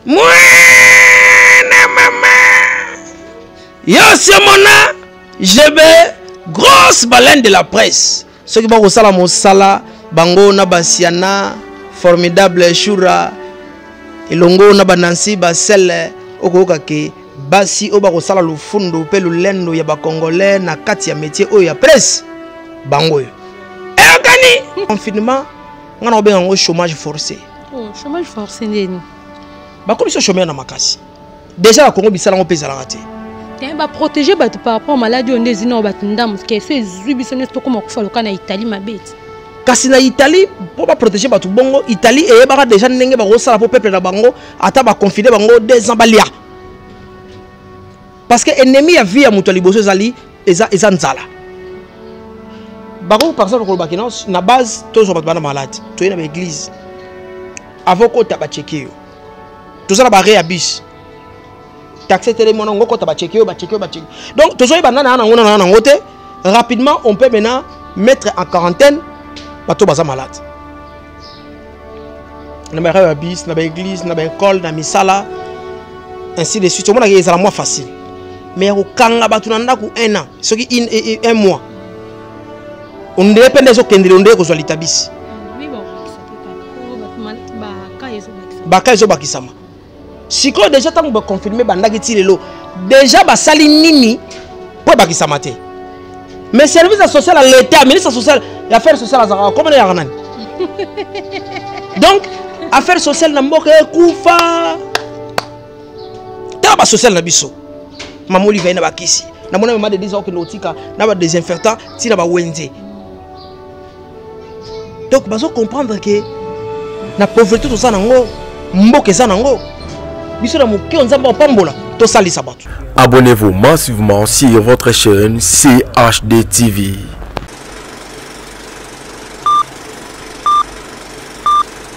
mwana mama yasi omona jebe grosse baleine de la presse soki bakosala mosala bango na basiana formidable shura elongo na banansi basele okoyoka ke basi oyo bakosala lofundo mpe lolendo ya bakongole na kati ya metie oyo ya presse bango oyo eyokani confinement ngai na kobenga yango chômage forcé Oh, chômage forcé ndeni. Bakomi so chômeur na makasi. Déjà na Congo bisala ngo pesa la raté. Tiens, ba protéger bato par rapport maladie onde zina o bato ndamu ke so ezui biso ne to koma kufa loka na Italie mabeti. Kasi na Italie pour ba protéger bato bongo Italie et ba déjà ndenge ba ko sala pour peuple na bango ata ba confiner bango deux ans balia. parce que ennemi ya vie ya moto ya liboso ezali eza, eza nzala bakoki par exemple koloba kino na base tozwa bato bana malade toye na baeglise avant okota bacheke yo toza na bare ya bus taxe etelemi wana ngo okota bacheke yo bacheke yo bacheke donc tozoyi banda na yango na yango te rapidement on peut maintenant mettre en quarantaine bato baza malade na ba ya bis na ba église na ba école na misala ainsi de suite omonaka ezala mwa facile mais ya kokanga bato na ndako un an soki e, e, un mois ondele mpe nde ezokendele ondele kozwa litabisi baka ezobakisama sikoyo deja ntango baconfirme bandaki ti lelo deja basali nini mpo ebakisama te mais service ya social ya leta ministre social ya affaire sociale azalaka komona yaka nani donc affaire sociale na mboka ekufa tala basociale na biso mama olive na bakisi namona mama de disa okende kotika na badesinfectant ntina bawenze donc bazo comprendre ke na pauvrete toza nango mboka eza nango biso na moke oyo nzambe apambola tosalisa bato abonnez-vous massivement sur votre chaîne chd tv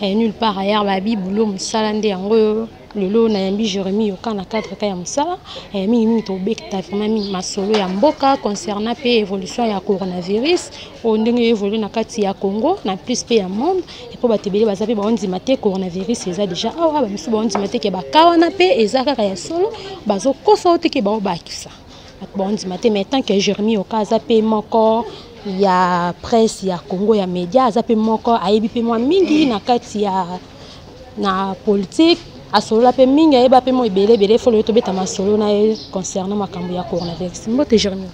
eh, nulle part ailleurs babi boulot mosala nde yango oyo lelo nayambi jérémi yoka na cadre ka ya mosala eh, mingi mingi tobekta vraiment mingi masolo ya mboka concernant mpe évolution ya coronavirus oyo ndenge evolue na kati ya congo na plus mpe ya monde mpo bato ebele baza mpe baondima te coronavirus eza déjà awa bamisusu baondima te ke baka wana mpe eza kaka ya solo bazokosa o te ke baobakisa bondimate mais tant que jeremi oka aza mpe moko ya presse ya congo ya média aza mpe moko ayebi mpe mwa mingi na kati ya na politique asolola mpe mingi ayeba mpe mwa ebele ebele folo tobeta masolo na ye concernant makambo ya coronavirus mbote jeremi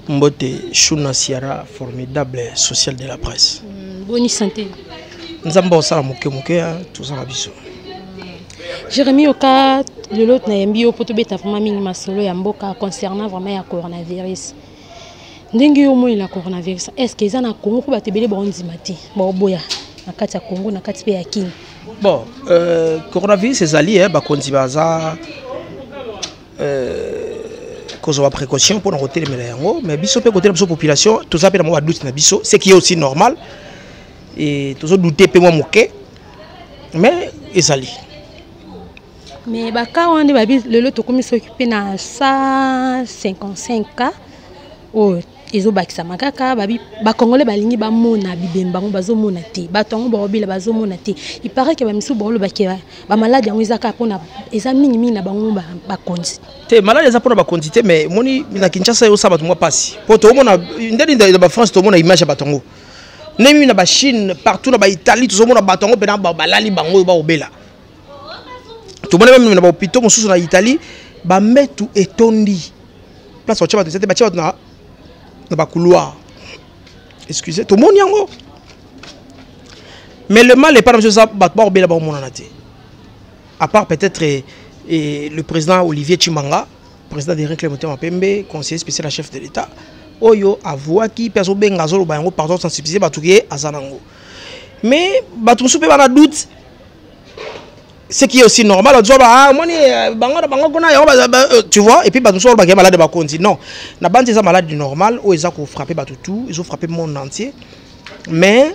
mbote shuna siara formidable social de la presse mm, boni santé nzambe osala moke moke tozala biso mm. Jérémy Oka, le lot na yembi yo poto beta vraiment mingi masolo ya mboka concernant vraiment ya coronavirus. Ndenge yo moi la coronavirus, est-ce que ça na Congo ko batebele ba ondima te, ba oboya na kati ya Congo na kati pe ya Kin. Bon, euh, coronavirus ezali eh ba konzi baza euh kozwa précaution mpo na kotelemela yango mais biso mpe kotelemela biso population toza mpe na mwa badoute na biso ce qui est aussi normal et tozodoute mpe mwa moke mais ezali mais baka wana nde babi lelo tokomi soki mpe na 155 cas oyo ezobakisama kaka bakongole balingi bamona bibembe bango bazomona te bato yango baobela bazomona te ipare ke bamisusu baolobake bamaladi yango eza kaka mpona eza mingimingi na bango bakonzi te maladi eza mpona bakonzi te mais moni na kinshasa eosala bato mwa mpasi mpo toomona ndeni na bafrance tomona image ya bato yango ndenge mimi na bachine partout na baitalie tozomona bato yango mpena balali bango oyo baobela tomoni meme na bahopitau mosusu na italie bambetu etondi place batya bato eza te batya bato na bacouloir excuse tomoni yango mais le mal epai na biso eza bato bakobela bakomonana te à part peut-être eh, eh, le président olivier chimanga Président de Reclame Motema Pembe, conseiller spécial à chef de l'État, oyo avuaki mpe azobenga azoloba yango pardon sensibiliser bato ke aza nango mais bato mosusu mpe bana doute ce qui est aussi normal ozwa ba omoni ah, euh, bango na bango kuna yango euh, tu vois et puis bato mosusu balobaka malade bakonzi non na banzi eza malade normal oyo eza kofrappe bato tout ezofrappe monde entier mais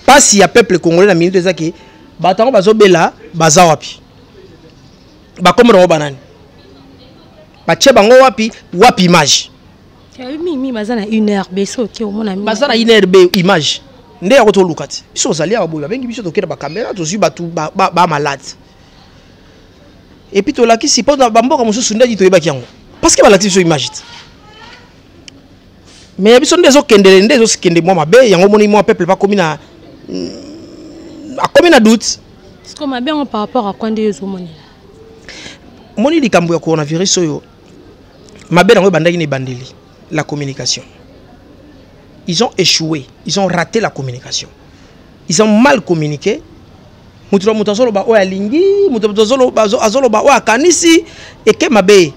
mpasi ya peuple congolais na minute eza ke bato yango bazobela baza wapi bakombo nango banani batie bango wapi wapi image mimi baza na une heure be soki omona baza na une heure be image nde yango toluka ti biso ozali awa boye babengi biso tokenda bakamera tozwi bato bamalade epuis tolakisi mpo na bamboka mosusu ndeti toyebaki yango parceke balakisi biso image ti mais ya biso nde ezokendele nde ezokende mwa mabe yango omoni mwa peuple bakomi na mm, akomi na doute siko mabe yango par rapport akwa nde ezomonela moni likambo ya coronavirus oyo mabe yango ebandaki na ebandeli la communication ils ont échoué ils ont raté la communication ils ont mal communiqué moto na moto azoloba oyo alingi moto na moto azoloba oyo akanisi eke mabe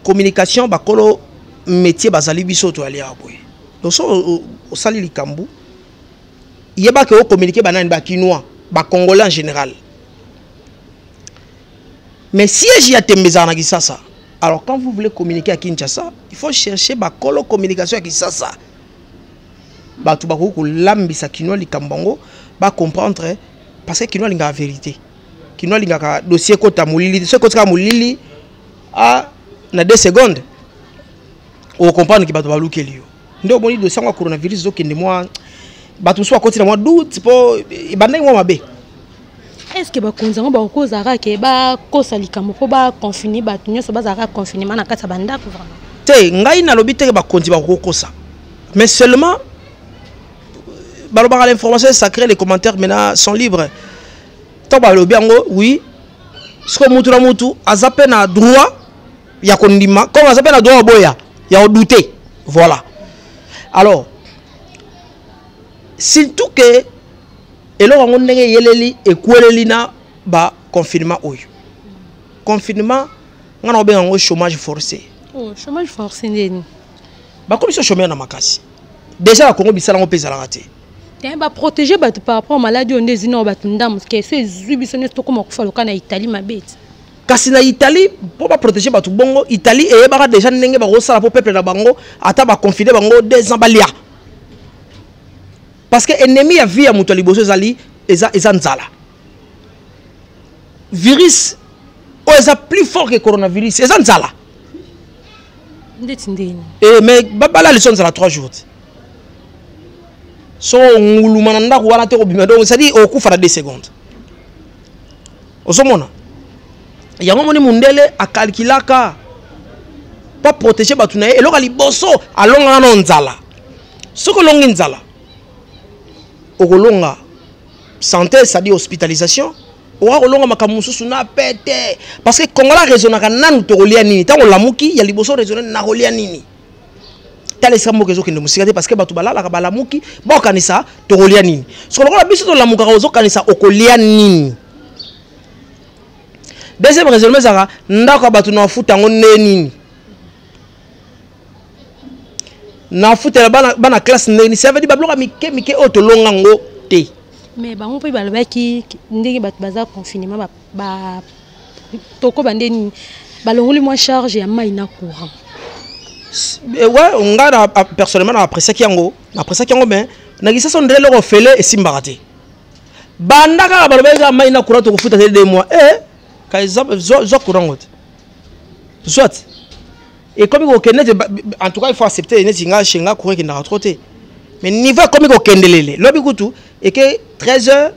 communication bakolo métier bazali biso toyali awa boye donc so osali likambo yeba ke o communiquer banani ba kinois ba congolais en général mais siège ya tembe ezala na kisasa alors quand vous voulez communiquer à kinshasa il faut chercher bakolo communication ya kisasa bato bakoki kolambisa kinois likambo yango bacomprendre parce que kinois alingaka vérité kinois alingaka dossier ekota molili so ekotika molili a ah, na 2 secondes okokomprendre ke bato balukeli yo nde omoni dosi yango ya coronavirus ezokende mwa bato mosusu bakoti na mwa doute mpo ebandaki mwa mabe est ce que bakonzi yango bakoki kozalaka ke bakosa likambo mpo baconfine bato nyonso bazalaka confinement na kati ya bandako vraiment te ngai nalobi teke bakonzi bakoki kokosa mais seulement balobaka l'information est sacré les commentaires maintenant sont libres ntango balobi yango oui sikoyo mutu na mutu aza mpe na droit ya kondima comme aza mpe na droit oboya ya odute voilà alors surtout ke eloko yango ndenge eyeleli ekweleli na baconfinement oyo confinement ngai na kobenga yango chômage forcé oh, chômage forcé ndeni bakomi so chômeur na makasi déjà na congo bisala yango mpe ezalaka te Eh, baprotege bato par rapport maladi oyo nde ezina oyo bato ndambo ke so ezwi biso nyonso tokóma kofa loka na italie mabe ti kasi na italie mpo baprotege bato bongo italie eyebaka deja ndenge bakosala mpo peuple na bango ata baconfine bango deux ans balia parce que ennemi ya vie ya moto ya liboso ezali eza, eza nzala virus oyo eza plus fort que coronavirus eza nzala ndeti ndeni e eh, mais babala liso nzala 3 jours te so nguluma na ndako wana te kobima donc cestadire okufa na 2 secondes ozomona yango moni mundele akalkilaka pa protege bato na ye eloko ya liboso alongaka nao nzala soki olongi nzala okolonga santé c'est-à-dire hospitalisation okoka kolonga makambo mosusu na pete parce que kongola raisonnaka nanu tokolia nini ntango olamuki ya liboso raisonne nakolia nini tala esika mboka ezokende mosika te parce que bato balalaka balamuki baokanisa tokolia nini soko lokola biso tolamukaka ozokanisa okolia nini deuxième raisonnement ezalaka ndako ya bato na bafuta yango nde nini nafutela bana, bana classe nde nini ça veut dire babiloko ya mike mike oyo tolonga yango te mais bango mpe balobaki ndenge bato baza confinement ba toko bande nini balongoli mwa charge ya mai na courant eh, ouais nga na ah, personnellement na appréciaki yango na appréciaki yango mais na kisasa ndele loko fele esimbaka te banda kaka baloba eza mai na courant tokofuta te deux mois eh ka zwa courant ngo te soit ekomi kokende te en tout cas il faut accepter neti nga chez nga courant ekendaka trop te mais niveau ekomi kokendelele lobi kutu eke 13 heures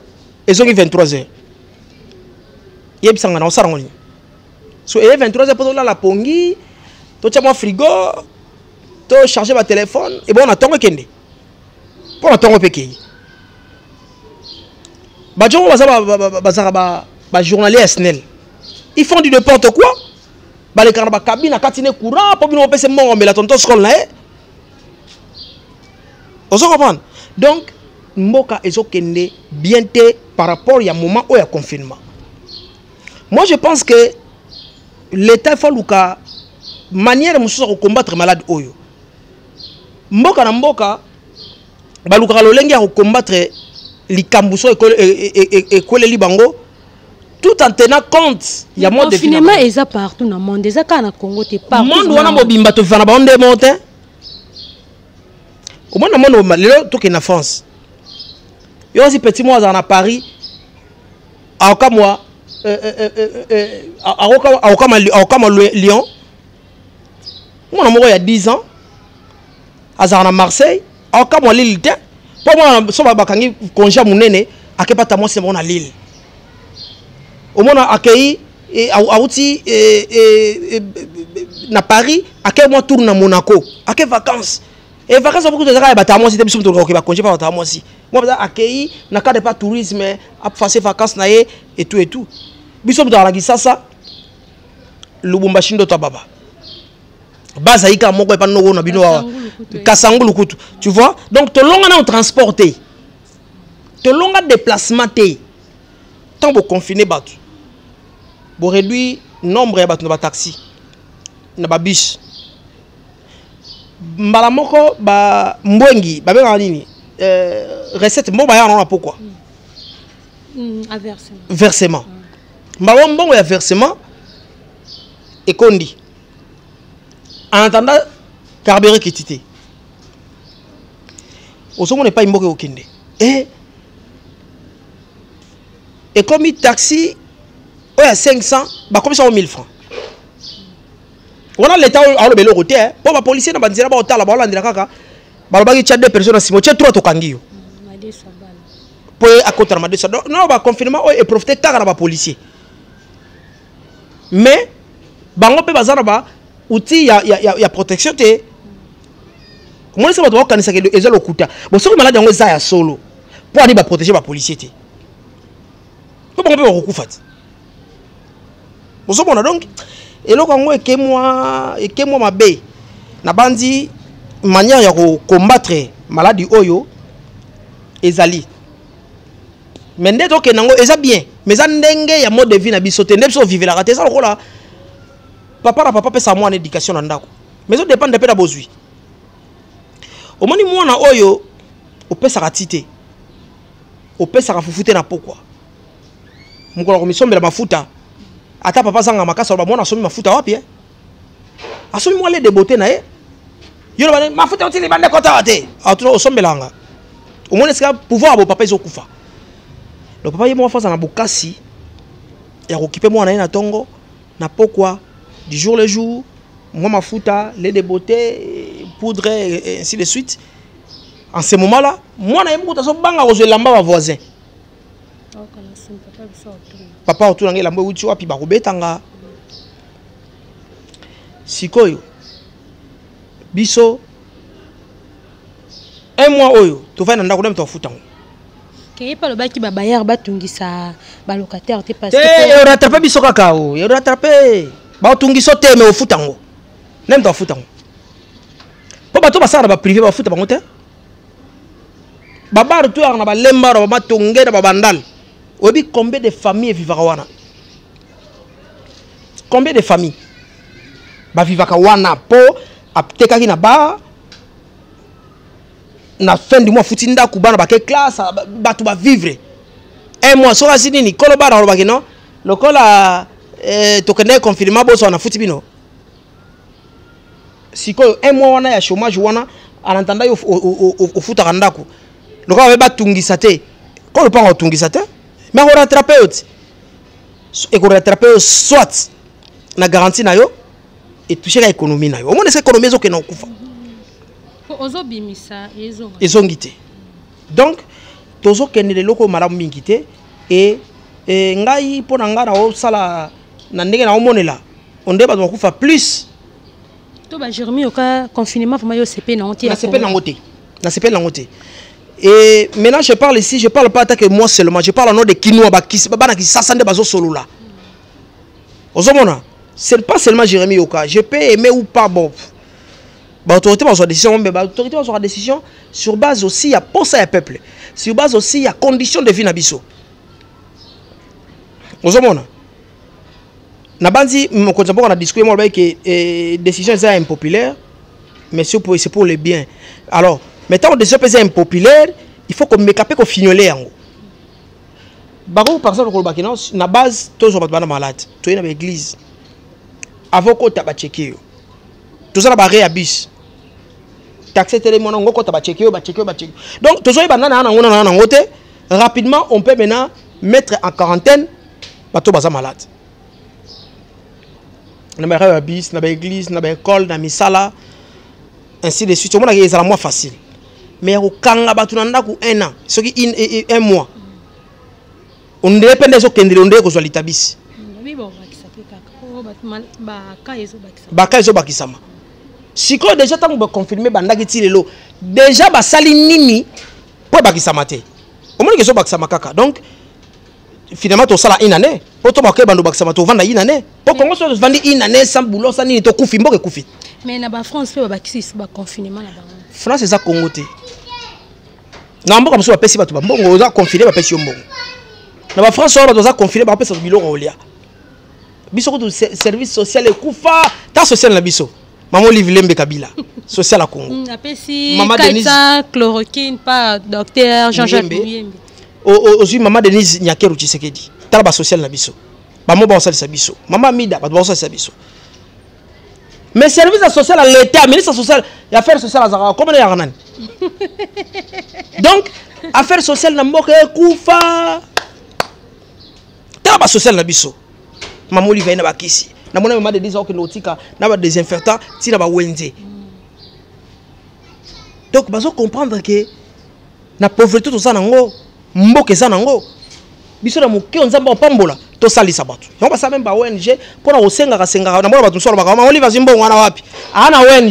ezongi 23 heures yebisa nga na osala ngo nini so eye 23 heures mpo tolala pongi totya mwa frigo tocharge batelefone ebongo na ntongo ekende mpo na ntongo mpe ekei bajongo baza bazalaka bajournalier ya snel ils font du n'importe quoi balekaka na bakabine akati ne courant mpo bino bopesa mbongo mbela tonton scol na ye ozo comprendre donc mboka ezokende bien te par rapport ya moment oyo ya confinement moi je pense que l'état faut aluka manière mosusu ya kocombattre malade oyo mboka na mboka balukaka lolenge ya kocombattre likambo so ekweleli e, e, e, bango tout en tenant compte ya mode de cinéma eza partout na monde eza kaka na Congo te partout monde wana mobimba to vana ba onde monte au moins na monde lelo to na France yo aussi petit moi na Paris aoka moi euh, euh, euh, aoka aoka ma aoka ma Lyon mwana moko ya 10 ans azalaka na marseille aokamwa lile te mpo mwana so bakangi konge ya monene akepata mwasi na bango na lile omona akei e, auti e, e, na paris akei mwa tour na monaco ake vacance e vacance apokutu ezaka ya bata mwasi te biso motoloka kokeba konge mpa bata mwasi mwa baza akei na cadre pa tourisme aface vacance na ye etu etu biso moto alaki sasa lubumbashi ndoto ya baba baza yika moko epa noko na bino awa kasangulu kutu tu vois donc tolonga nao transport te tolonga déplacement te ntango boconfine bato boréduit nombre ya bato na bataxi na babus mbala moko bambwengi babengaka nini euh, recette mbongo bayaka nango na pokwa mm, versement mbala mbongo ya versement ekondi en attendant carburant ekiti te ozomona epai mboka ekokende e eh? ekomi taxi oyo ya 500 bakomisa yango 1000 francs wana leta alobela eloko te eh? mpo bapolisier na banzela baotala baolandela kaka balobaki tya deux personnes na nsima otye trois tokangi yo mpo ye akotana madeso no baconfinement oyo eprofite kaka na bapolisier mais bango mpe baza na ba outil ya, ya, ya, ya protection te omonisi bato bakokanisaka eza lokuta bo soki maladi yango eza ya solo mpo ani baprotege bapolisier te mpo bango mpe bakokufa te bozomona donc eloko yango ekemwa ekemwa mabe nabanzi manière ya kocombattre maladi oyo ezali mais nde tokenda yango eza bien mais eza ndenge ya mode de vie na biso te nde biso ovivelaka te eza lokola papa na papa apesaka mwana éducation na ndako mais ezodépendre mpe na bozwi omoni mwana oyo opesaka ti te opesaka fufu te na pokwa mokolo komisombela mafuta ata papa azanga makasi aloba mwana asombi mafuta wapi eh? asomi mwa lede bote na ye yo loba mafuta otili bande kotawa te atuna osombelanga omoni esika pouvoir ya bopapa ezokufa lo papa ye moko afaza na bokasi ya kokipe mwana ye na ntongo na pokwa du jour le jour mwa mafuta le de beauté poudre ainsi de suite en ce moment là mwana ye moko tazobanga kozwa elamba bavoisin papa otuna ngai elambo euti wapi bakobeta nga sikoyo biso un mois oyo tovandi na ndako nde moto afuta yango keyepe alobaki babayere batungisa balocataire te parce te eoratrape biso kaka o eoratrape baotungiso te me ofuta yango nde moto afuta yango mpo bato basala na baprive bafuta bango te babare to yaka na balembara bamatonge na babandale oyebi combien de famille evivaka wana combien de famille bavivaka wana mpo atekaki na bar na fin du mois afuti ndako bana bake classe bato bavivre un mois soki asi nini kolo bara alobaki no lokola eh, tokendaki confirma bozwa nafuti bino sikoyo un mois wana ya chômage wana en attendant yo ofutaka ndako lokola baye batungisa te ko lopanga otungisa te me akorattrape yo ti ekorattrape yo soit na garantie na yo etusheka économie na yo omona esa économie ezokenda kokufa ezongi te donc tozokende leloko malamu mingi te e, e ngai mpo na ngai naosala na ndenge na omonela onde bato bakufa plus to ba jeremi oka confinement vraiment yo sepe na onte sepe na ngote na sepe na ngote et maintenant je parle ici je parle pas attaque moi seulement je parle au nom de kinois ba kis bana kisasa nde bazo solola ozomona c'est pas seulement jeremi oka je peux aimer ou pas bon ba autorité bazwa décision mais ba autorité bazwa décision sur base aussi ya posa ya peuple sur base aussi ya condition de vie na biso ozomona nabanzi mokonzi ya mboka na discours yango alobaki ke eh, décision eza ya impopulaire mais c'est pour, pour le bien alors mais ntango décision mpe eza impopulaire il faut komeka mpe kofignole yango bakoki par exemple kolobaki no na base tozwa bato bana malade toyei na baeglise avant okota bacheke yo toza na barre ya bus taxe etelemi wana ngo okota bacheke yo bacheke yo bacheke donc tozwai banana yango na yango te rapidement on peut maintenant mettre en quarantaine bato baza malade na barave ya bis na baeglise na baekole na misala ainsi de suite omonaka ezala mwa facile mais ya kokanga bato na ndako un an soki e, e, un mois ondele mpe nde ezokendele ondele kozwa litabisi baka ezobakisama sikoyo deja ntango baconfirme bandaki ti lelo deja basali nini mpo ebakisama te omoni kezo bakisama kaka donc finalement tosala une année mpo to bakoki bando bakisama tovanda une année mpo kongo so tofandi une année sans boulot sa nini tokufi mboka ekufi mais na bafrance mpe babakisi lisusu baconfinement na bango france eza kongo te na mboka mosusu bapesi bato bambongo oza confine bapesi yo mbongo na bafrance oyo bato baza confine bakopesa biloko olia biso kutu service social ekufa ta social na biso Maman Olive Lembe Kabila, social à Congo. Mm, apesi Maman Denise chloroquine par docteur Jean-Jacques Muyembe. Ozui Maman Denise Nyakeru Tshisekedi. Tala ba social na biso. Maman ba osalisa biso. Maman Mida ba osalisa biso. Mais service à social à l'État, ministre social, et affaires sociales à Zara, comment est Yarnan Donc, affaires sociales na mboka ekufa. tala ba social na biso mama olive na bakisi na mona mama de disa okende kotika na ba desinfectant ti na ba wenze donc bazo comprendre que na pauvreté toza nango mboka eza nango biso na moke nzambe apambola tosalisa bato yango basala meme ba ong mpo na kosengaka sengaka na mona bato mosusu alobaka mama olive azwi mbongo wana wapi aa na ong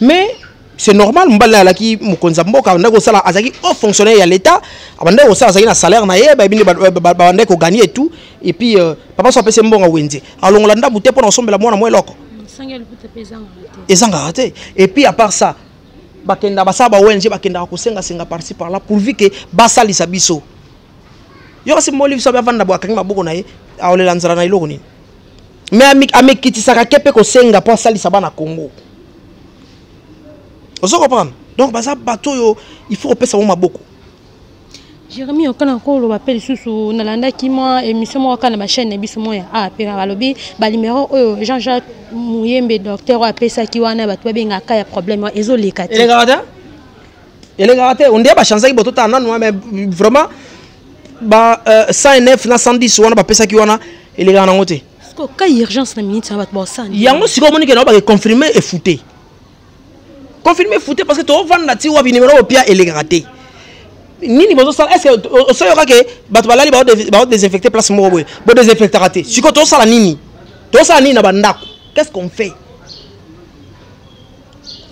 mais c'est normal mobali naye alaki mokonzi ya mboka abandaki kosala azalaki haut fonctionnaire ya l'état abandaki kosala azalaki na salaire na ye bayebi nde babandaki koganie tout et puis euh, papa so apesi mbongo wenze alongola ndambu te mpo na kosombela mwana mwa eloko ezangaka te et puis à part ça bakenda basala ba ong bakendaka kosengasenga parci par là pourvu ke basalisa biso yo kasi moliviso abe avanda bo akangi maboko na ye aolela nzala na eloko nini mais amikitisaka te mpe kosenga mpo asalisa bana congo ozo comprendre donc baza bato oyo il faut kopesa bango maboko jérémi oka na koloba mpe lisusu nalandaki mwa émission moko kaka na bachaîne na biso moko ya a mpe balobi banimero oyo jean jacques muyembe docteur oyo apesaki wana bato babengaka ya problème wana ezoleka te elekaka te elekaka te onde bachanzaki boto tala nanu mais vraiment ba euh, 109 na 110 wana bapesaki wana elekaka nango te ka urgence na minute na bato baosani yango sikoyo omoni ke nao bakeconfirme efute confirme efute parce que toovanda ti wapi nimero opia elekaka te nini bozosala est ce que osoyoka ke bato balali baodesinfecte place moko boye bodesinfectaka te sikoyo tosala nini tosala nini na bandako qu'est ce qu'on fait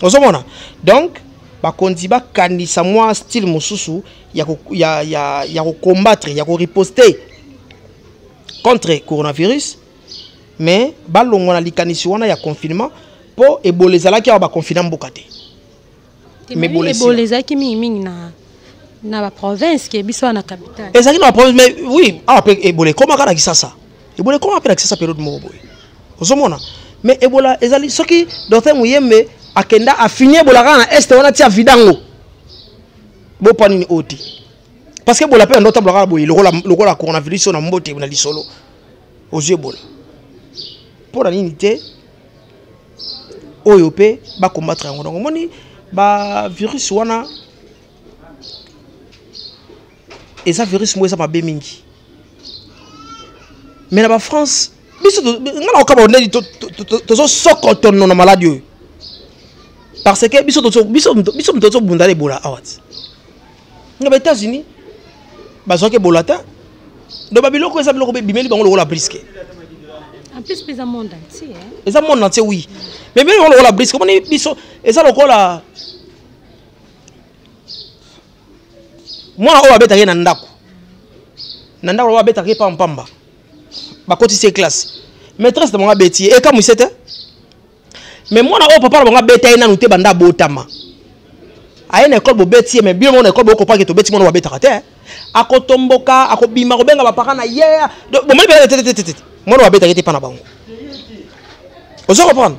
ozomona donc bakonzi bakanisa mwa style mosusu ya ko ya ya ya ko combattre ya ko riposter contre coronavirus mais balongwa na likanisi wana ya confinement mpo ebola ezalaki awa baconfina mboka te ebola ezalaki mingimingi na na baprovince ke biso wana capitale ezalaki na baprovince mais oui awa mpe ebola ekomaka na kisasa ebola ekomaka mpe na kisasa periode moko boye ozomona mais ebola ezali soki docteur muyembe akenda afini ebola kaka na este wana ti avidango bopa nini oyo te parce que ebola mpe yando otambola kaka boye lokola coronavirus oyo na mbote na lisolo ozwi ebola mpo na nini te oyo mpe bacombattre yango donc omoni bavirus wana eza virus moko eza mabe mingi mais na bafrance biso nga nakokaba ondeli tozosokotono na maladi oyo parce que biso moto tozobunda na ebola awa ti nga ba états-unis bazwaki ebola te donc babiloko eza biloko bimeli bango lokola briske eza monde entier eza monde entier oui mais bimeli bango lokola briske omoni biso eza lokola mwana oyo abetaki na ndako na ndako oyo abetaki epa mpamba bakotisi ye classe maîtresse na bango abeti ye ekamwise te mais mwana oyo papa na bango abeta ye nanu te banda abotama aye na ekole bobeti ye mais bino moko na ekole bokopaki tobeti mwana babetaka te akotomboka akobima kobenga bapaka na ye bomoni bela tetetetete mwana babetaki te mpa na bango ozo comprendre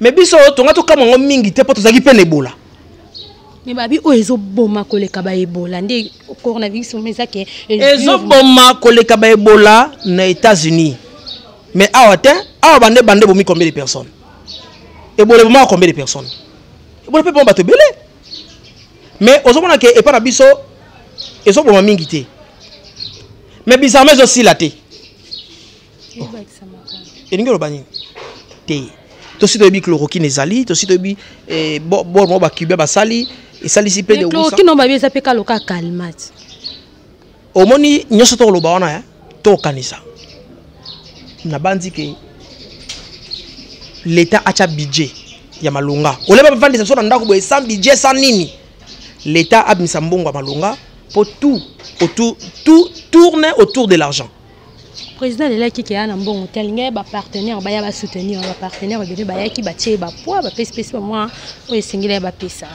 mais biso tonga tokamwa yango mingi te mpo tozalaki mpe na ebola me babi oyo ezoboma koleka baebola nde coronavirus omo eza ke ezoboma koleka baebola na états-unis mais awa te awa bande bande bomi combien de personnes ebola ebomaka combien de personnes ebola mpe boma bato ebele mais ozomona ke epai na biso ezoboma mingi te mais bizarrement ezosila te elingi oloba nini te tosi toyebi chloroquine ezali tosi toyebi eh, bor moko bacubien basali esalisi mpe chloroquine oyo babi eza mpe kalo ka calmate omoni nyonso tokoloba wana ya eh? tokanisa nabanzi ke leta atya budget ya malonga oleba bafandisa biso na ndako boye sans budget sans nini leta abimisa mbongo ya malonga mpo tout, autour, tout tourne autour de l'argent président alelaki ke aa na mbongo te alinga ye bapartenaire baya basoutenir bapartenaire ebele bayaki batie ye bapoids bapesi pesi bamwa oyo esengeli ye bapesa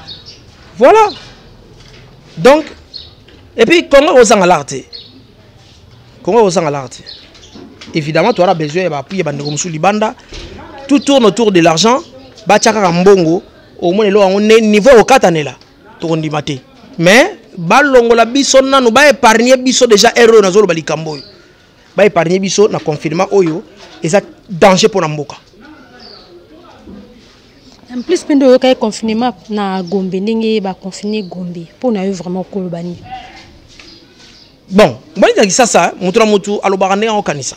voilà donc epuis congo ekozanga lar te congo ekozanga lar te évidemment toyana besoin ya bapui ya bandeko mosusu libanda tout tourne autour de l'argent batya kaka mbongo omona eloko yango niveau ekokatanela tokondima te mais balongola biso nanu ba épargner biso déjà erreur oyo nazoloba likambo oyo ba épargner biso na confinement oyo eza danger mpo na mboka en plus mpe nde oyokaki confinement na gombe ndenge baconfine gombe mpo na yo vraiment okoloba nini bon mbanizaki sasa moto na moto alobaka ndenge akokanisa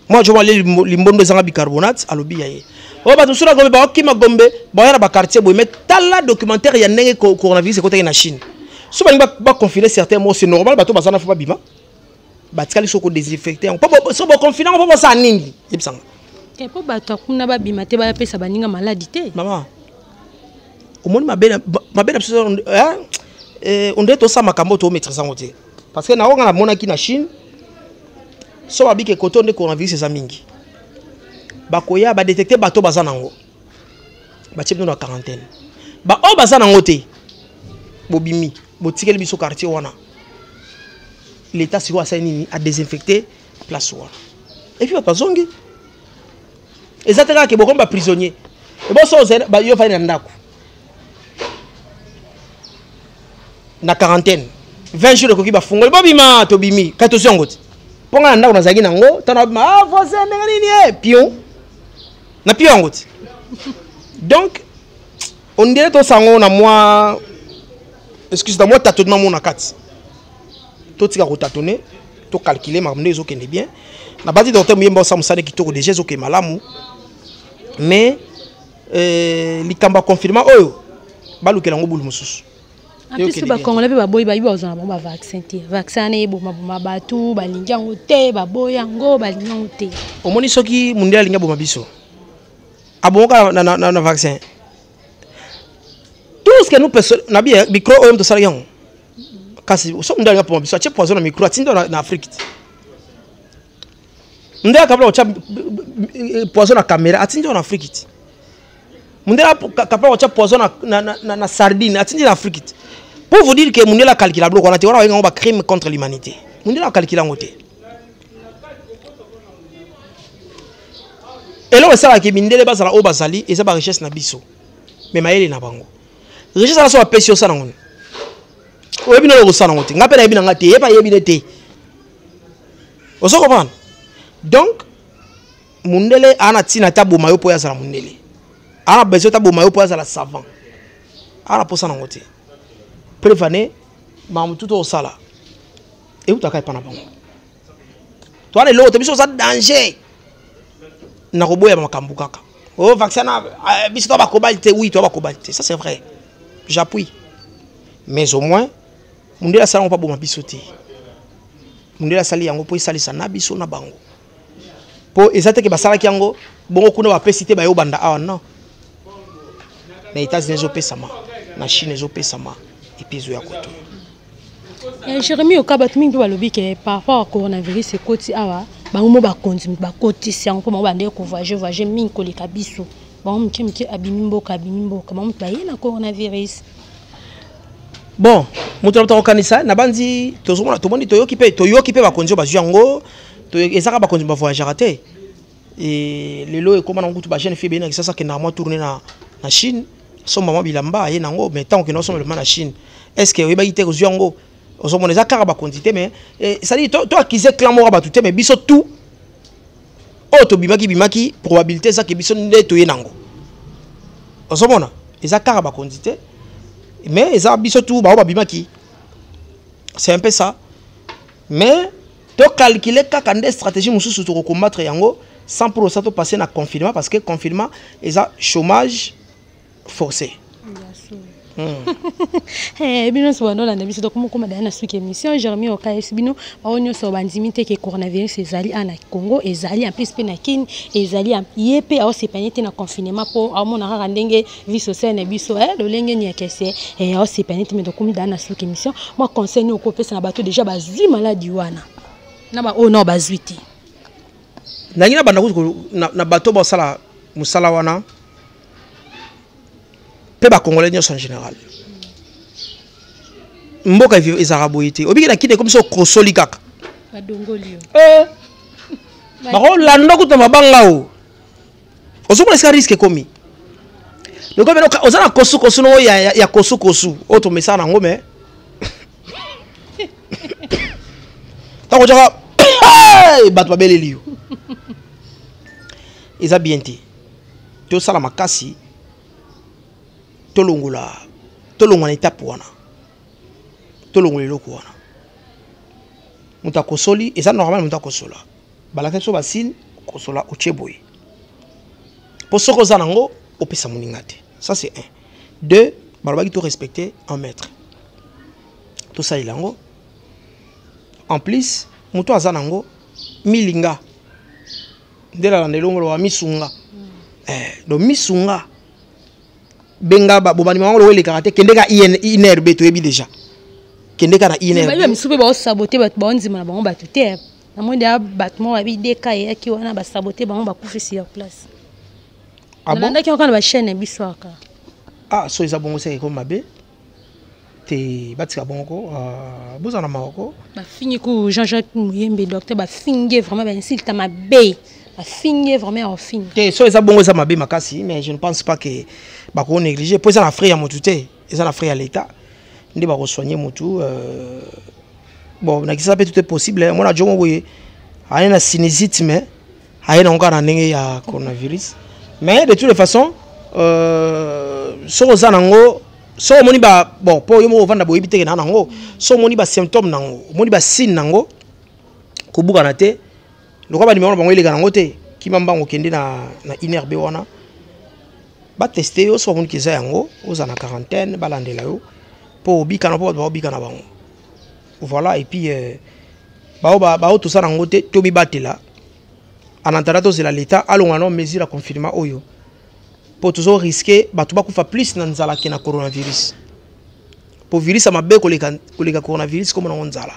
mwana jomo alie limbondo ezanga bicarbonate alobi ya ye oyo bato mosusu na gombe bakima gombe baya na baquartier boye mais tala documentaire ya ndenge coronavirus ekotaki na chine so balingi baconfine certain mo c'est normal bato baza na fo babima batikali so kodesinfecte yango po so boconfine yango po bosala nini yebisanga te mpo bato akuna babima te bayapesa baninga maladi te mama omoni mabe na biso eh, eh, ondire tosala makambo oyo tomaîtrise yango te parce que naoyo nga namonaki na chine so babike koto nde coronavirus eza mingi bakoya badetecte bato baza nango batie bino na quarantaine baoyo baza nango te bobimi botikeli biso quartier wana l'état sikoyo asali nini adesinfecte place wana epuis bato bazongi eza te kaka ke bokomi baprisonnier eboso yo ofandi na ndako na quarantaine 20 jours ekoki bafungoli bobima tobimi kati tozwi yango te mpo ngai na ndako nazalaki nango ntango nabima ah, voisin ndenge nini ye eh, pion na pion yango te donc ondire tosango na mwa excuse na mwa tatonnement mona kati totika kotatone tocalcule makambo nde ezokende bien nabati docteur moyemba osa mosala kitoko deja ezokende malamu mais eh, likambo ya confinement oyo balukela yango bulu mosusu apesi bakongole mpe baboyi bayibi bazwa na bango bavaccin te vaccin wana ebomaboma bato balingi yango te baboyi yango balingi yango te omoni soki mondele alingi aboma biso abomoka na, na, na, na vaccin tout ce que nous personne na bi micro oyo moto osalaki yango kasi soki mondele alingi aboma biso atie poison na micro atinda na afrique te mundele akabla kotya poison na kamera atindi yo na afriki ti mundele akabla kotya poison na, na, na, na, na sardine atindi na afriki ti pour vous dire que mundele akalkila biloko wana te wana babenga yango bacrime contre l'humanité mundele akalkila yango te eloko esalaki mindele bazala oyo bazali eza barichesse na biso me mayele na bango richesse wana so bapesi yo osala yango nini oyebi nolo kosala yango te ngai mpe nayebi na ngai te ye mpe ayebi ne te ozo comprendre donc mundele ana tina ta boma yo po ya zala mundele ana besoin ta boma yo po ya zala savant ana posa nango te prevane mamu tout osala eutaka epa na bango to ana eloko te biso oza danger nakoboya makambo kaka o oh, vaccin na eh, biso to bakobali te oui to bakobali te ça c'est vrai j'appuie mais au moins mundele asala yango mpo aboma biso te mundele asali yango mpo esalisa na biso na bango mpo eza teke basalaki yango bongo kuna bapesi te bayo banda awa non na états-unis ezopesama na chine ezopesama epi ezo ya koto eh, jérémi oka bato mingi mpe balobi ke par rapport a coronavirus ekoti awa bango mo bakonzi bakotisi yango mpo bango bandee kovoyage voyage mingi koleka biso bango moke moke abimi mboka abimi mboka bango moto baye na coronavirus bon moto na moto akokanisa nabanzi tozomona tomoni toyoki mpe toyoki mpe bakonzi oyo bazwi yango ezaka bakonzi bavoyagaka te e, lelo ekóma nango kutu bajeune fille beyina kisasa akendaka mwa tourne na, na chine asomba mwa bilamba aye nango mai ntango okenda osomba bilamba na chine est ce que oyebaki te kozwi yango ozomona eza kaka bakonzi te mais esali eh, to akize clan moko ya bato te mais biso tout oyo tobimaki bimaki probabilité ezaki biso nde toye nango ozomona eza kaka bakonzi te mais eza biso tu baoyo babimaki c'est un peu ça mais tocalcule kaka nde stratégie mosusu tokocombattre yango sans pour osa topasse na confinement parce que confinement eza chômage force hmm. eh, bino nyonso bandolanda biso donc mokoma daya na suki émission jeremi okayesi bino bango nyonso bandimi te ke coronavirus ezali a na congo ezali en plus mpe na kini ezali ye mpe aosepanye te na confinement mpo aomona kaka ndenge vie sociale na biso eh, lolenge niakese eh, aosepanye te me tokomi daya na suki émission mwa conseil nini okopesa na bato déjà bazwi maladi wana na baoyo nao bazwi te nangi na banda kutu na bato basala mosala wana mpe bakongolais nyonso en général mboka ezalaka boye te obiki na kini ekomi so okosoli kaka eh. bakolanda kutu na mabanga o ozomona esika riske ekomi oza na kosukosu noo ya kosukosu oyo tomesaka nango me ntango otyaka bato babeleli yo eza bien te tosala makasi tolongola tolongwa na etape wana tolongola eloko wana moto akosoli eza normal moto akosola balakisa biso basine kosola otie boye mpo soki oza nango opesa moninga te ça c'est un deux balobaki to respecte un maître tosalela yango en plus moto aza nango milinga nde nalanda elongo loba misunga eh, do misunga benga bobandima yango loko elekaka te kende ka inrb toyebi déjà kende ka na inrb misusu mpe baosabote bato baondima na bango bato te namoni deya bato moko babi deka eyaki wana basabote bango bakufisi ya place ah nalandaki yango kaka na bachaine ya biso aka ah so eza bongo seke ekomi mabe te batika bongo ko ah, bozala na mawa ko bafingi ku jean jacques muyembe docteur bafingi vraiment bainsulte mabe bafingi vraiment ya kofinga te so eza bongo eza mabe makasi mais je ne pense pas que bakoko néglige mpo eza na frais ya motu te eza na frais ya l'état nde bakosoigne motu euh, bon nakisa mpe tout est possible mwana jongo boye aye na sinizite mais aye nango kaka na ndenge ya coronavirus mais de toutes les façons euh, soki oza nango soki omoni ba bon mpo yo moko ovanda boyebi teke na nango soki omoni basymptome nango omoni basigne nango kobukana te lokola banimero na bango eleka nango te kima mbango okende na, na inerbe wana bateste yo soki bamoni keza yango ozala na quarantaine balandela yo mpo obikana mpo bato baobika na bango Voilà et puis euh, bao ba bao tout ça nango te to mibatela en attendant tozela l'état alonga na mesure ya confinement oyo mpo tozo risque bato bakufa plus na nzala ke na coronavirus mpo virus ya mabe koleka, koleka coronavirus komona yango nzala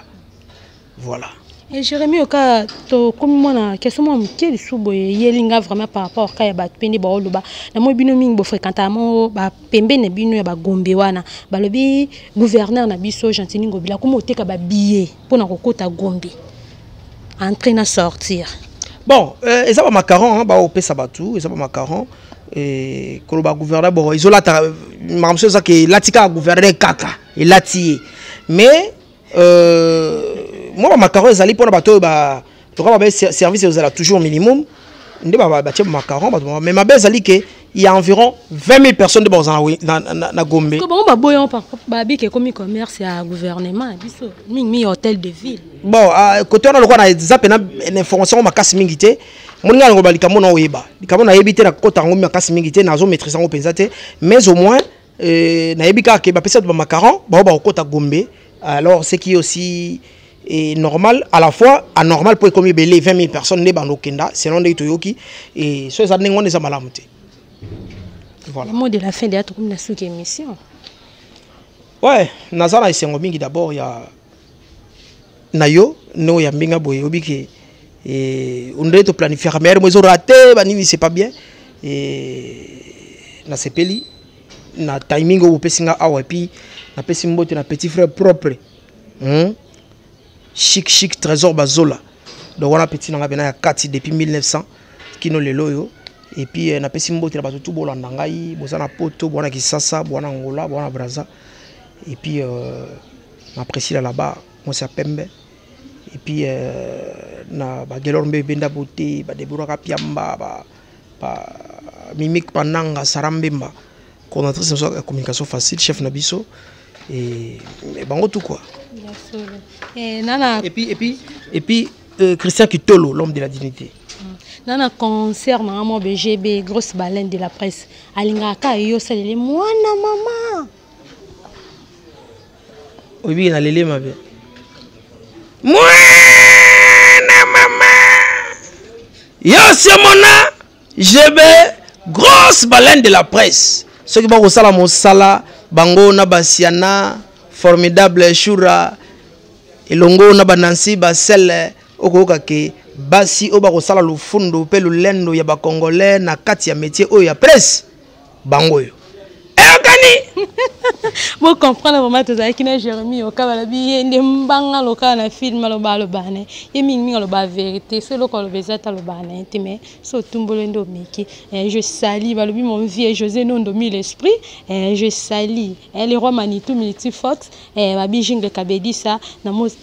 voilà e jérémi oka tokomi mwana keso mwa moke lisusu boye eyeli nga vraiment par rapport ka ya bato mpe nde baoloba namoi bino mingi bofréquentama pembeni na bino ya bagombe wana balobi gouverneur na biso gentini ngobila akoma oteka babillet mpo na kokota gombe entre na sortir bon euh, eza bamacaron baopesa bato eza bamacaron euh, koloba gouverneur bon ezolata makambo so ezaka elati kaka gouverneur kaka elati ye mais Euh, moi, ma macaron, ils allaient pour le bateau, bah, tu vois, bah, service, ils allaient toujours minimum. Ils allaient bah, bah, bah, macaron, bah, mais ma belle, ils que il y a environ 20 000 personnes de Borzana na, na, na Gombe. Comment bah boyon par babi qui comme commerce à gouvernement biso ming mi hôtel de ville. Bon à, côté on a le quoi na zap na information ma casse mingité. Mon gars on va likamona oyeba. Likamona yebité na kota ngombi ma casse mingité na zo maîtriser ngo penza te mais au moins Euh, nayebi kaka ke bapesi bato bamacaron bao bakokota gombe alors ce qui aussi est normal à la fois anormal mpo ekomi ebele 20 000 personnes nde bando okenda selon ndenge toyoki e so eza ndenge wana eza malamu te voilà. mot de la fin deya tokomi na suki émission ouais naza na esengo mingi d'abord ya na yo nde oyambi nga boye oyebi ke eh, ondele toplanifiaka meilleur mo ezorate banini c'est pas bien eh, nasepeli na timing oyo bopesi nga awa epuis napesi mbote na petit frère propre hmm? chic chic trésor bazola donc wana petit na ngai mpena ya kati depuis 1900 kino lelo oyo epuis eh, napesi mbote na bato tu bolanda ngai boza na poto bowana kisasa bowana angola bowana braza epuis euh, na Priscilla là-bas, moi c'est Pembe. Et puis, euh, na ba Gelor Mbe Benda Beauté, ba Deborah Kapiamba, ba, ba Mimic Pananga, Sarah Mbemba, coordinatrice de la communication facile, chef Nabiso, et, et bango tout quoi. Et, nana... et puis, et puis, et puis euh, Christian Kitolo, l'homme de la dignité. Mm. nana concert na nga mwa bgb grosse baleine de la presse alingaka yo osaleli mwana mama oyebi na lele mabe mwana mama yosiomona jebe grosse baleine de la presse soki bakosala mosala bango na basiana formidable shura elongo na banansi basele okoyoka ke basi oyo bakosala lofundo mpe lolendo ya bacongolais na kati ya metier oyo ya presse bango oyo eyokani bocomprendre vraimen tozalaki na jérémi yoka balobi ye nde mbanga lokaa na film aloba alobaa na ye ye mingimingi alobaa verité so eloko aloba eza te alobaa na ye te mais so otumbolo nde omeki eh, je sali balobi mon vieux josé nondo mille esprit eh, je sali eh, le roi manitou multifox Eh, babi jungle kabedisa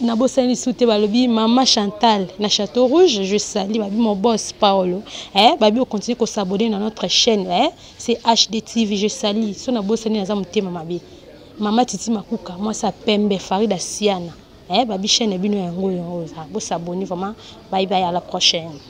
nabosani lisusu te balobi mama chantal na chateau rouge je sali babi mon boss paolo eh, babi ocontinue kosabone na notre chaîne eh, c'est hd tv je sali so nabosani naza motema mabe mama titi makuka mwasi ya pembe farida siana eh, babi chaîne ya bino yango yango oza bosabone vraiment baibai à la prochaine